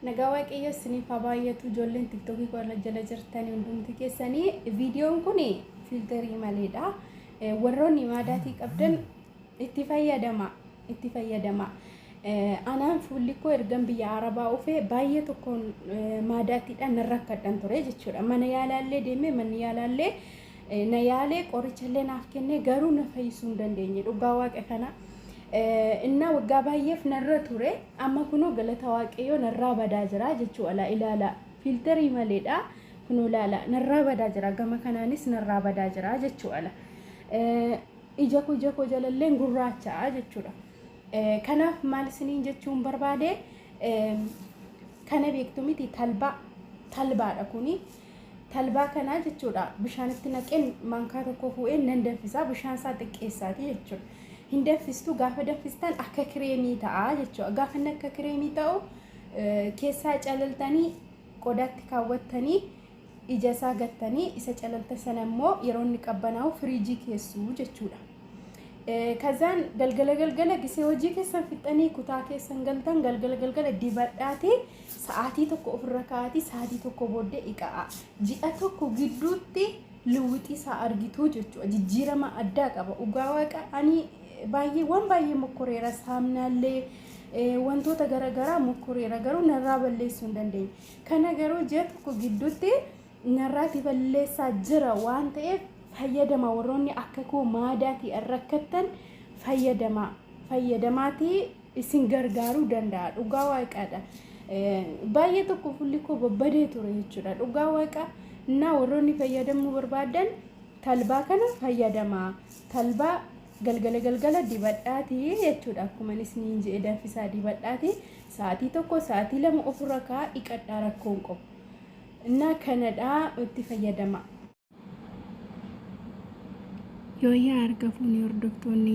Nagaa waaqayyoo isiniif haa baay'atu ijoolleen tiktokii koo irra jala jirtanii hundumti keessanii viidiyoon kun fiiltarii maleedha warroonni maadaatii qabdan itti fayyadama itti fayyadama anaan fuulli koo ergan biyya arabaa dhufee baay'ee tokkoon maadaatiidhaan nan rakkadhan ture jechuudha mana yaalaallee deemee manni yaalaallee na yaalee qorichallee naaf kennee garuu na fayyisuu hin dandeenye dhugaa waaqa kana innaa waggaa baay'eef narra ture amma kunoo galata waaqayyoo narraa badaa jira jechuu alaa ilaala fiiltarii maleedha kunoo ilaala narraa badaa jira gama kanaanis narraa badaa jira jechuu ala ija koo ija koo jalalleen gurraacha jechuudha kanaaf maal isiniin jechuun barbaade kana beektu miti talbaa talbaadha kuni talbaa kanaa jechuudha bishaanitti naqeen maankaa tokko fuudheen nan danfisaa bishaan isaa xiqqeessaati jechuudha. Hin danfistu gaafa danfistan akka kireemii ta'a jechuudha. Gaafa inni akka kireemii ta'u keessaa calaltanii qodaatti kaawwattanii ija isaa gattanii isa calalta sana immoo yeroo inni qabbanaa'u firiijii keessu jechuudha. Kazaan galgala galgala gisee hojii keessan fixxanii kutaa keessan galtan galgala galgala dibadhaati Sa'aatii tokko ofirra kaa'aatii sa'aatii tokko booddee dhiqa'aa. Ji'a tokko gidduutti lewwixii isaa argituu jechuudha. Jijjiirama addaa qaba. Dhugaa waaqa ani baay'ee waan baay'ee mokkoreera saamnaallee wantoota garaagaraa mokkoreera garuu narraa balleessuu hin dandeenye. Kana garuu ji'a tokko gidduutti narraati balleessaa jira waan ta'eef fayyadama warroonni akka koo maadaatii rakkattan fayyadama fayyadamaatii isin gargaaruu danda'a dhugaa waaqaadha baay'ee tokko fulli koo babbadee ture jechuudha dhugaa waaqaa na warroonni fayyadamuu barbaadan talbaa kana fayyadamaa talbaa galgala galgala dibadhaati jechuudha akkuma isiniin jedhe danfisaa dibadhaati sa'aatii tokko sa'aatii lama ofirra kaa dhiqadhaa rakkoon qabu na kanadhaa itti fayyadamaa. Yooyyaa argafuun hordoftoonni